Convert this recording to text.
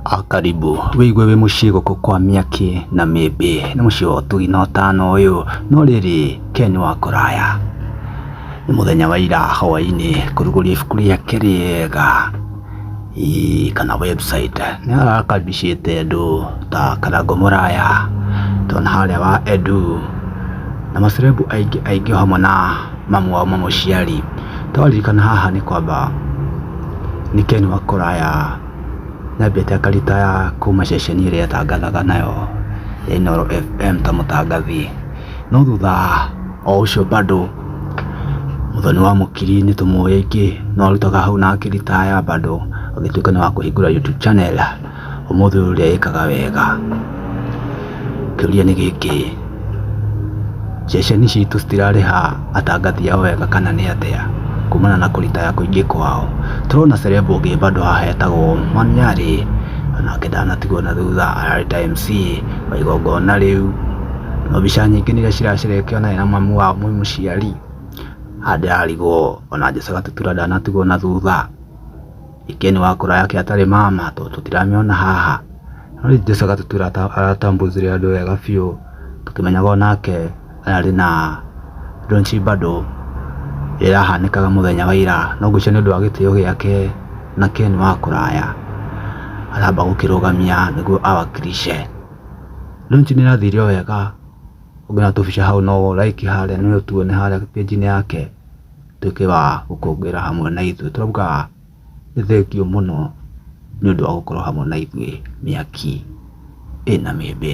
Ah, karibu wigue wi mucii guku kwa miaki na mimbi ni mucii wa utugi na utano uyu no riri ken wa kuraya ni muthenya wa ira hwaini kuruguria ibuku riake riega Ii, kana website ni arakaribicite andu ta karango muraya tona haria wa edu na macerebu aingi aingi hamwe na mamu wao mamũciari. Twaririkana haha nĩ kwamba nĩ Ken wa Koraya nyambĩte akaritaya kuma ceceni ĩrĩa etangathaga nayo ya Inooro FM ta mũtangathi. No thutha o ũcio bado Mũthoni wa Mũkiri nĩ tũmũĩ aingĩ no arutaga hau na akĩritaya bado agĩtuĩka nĩ wa kũhingũra YouTube channel. Ũmũthĩ ũyũ ũrĩa ĩkaga wega. Kĩũria nĩ gĩkĩ, ceceni citũ citirarĩha atangathi ao wega kana nĩ atĩa kumana na kũritaya kũingĩ kwao? Tũrona celeb ũngĩ bado haha etagwo Manyarĩ, onake ndanatigwo na thutha ararĩta MC wa igongona rĩu. Na mbica nyingĩ nĩ iria ciracerekio naye na mamu wao mwĩ mũciari. Haha ndĩrarigwo ona Jesũ Gatutura ndanatigwo na thutha. Ken wa kũra yake atarĩ mama tondũ tũtiramĩona haha, no ithuĩ Jesũ agatũtwĩra atambũicire andũ wega biũ tũkĩmenyaga onake ararĩ na ndũnci bado ĩrĩa yahanĩkaga mũthenya wa ira, no ngwĩciria nĩũndũ wa gĩtĩo gĩake na Ken wa kũraya aramba gũkĩrũgamia nĩguo awakilishe. Ndũnci nĩĩrathire o wega, ũngĩona tũbica hau no like harĩa nĩũtuone harĩa page -inĩ yake. atuĩke wa gũkũngũĩra hamwe na ithuĩ. Tũrauga nĩ thengiũ mũno nĩ ũndũ wa gũkorwo hamwe na ithuĩ mĩaki ĩna mĩĩmbĩ.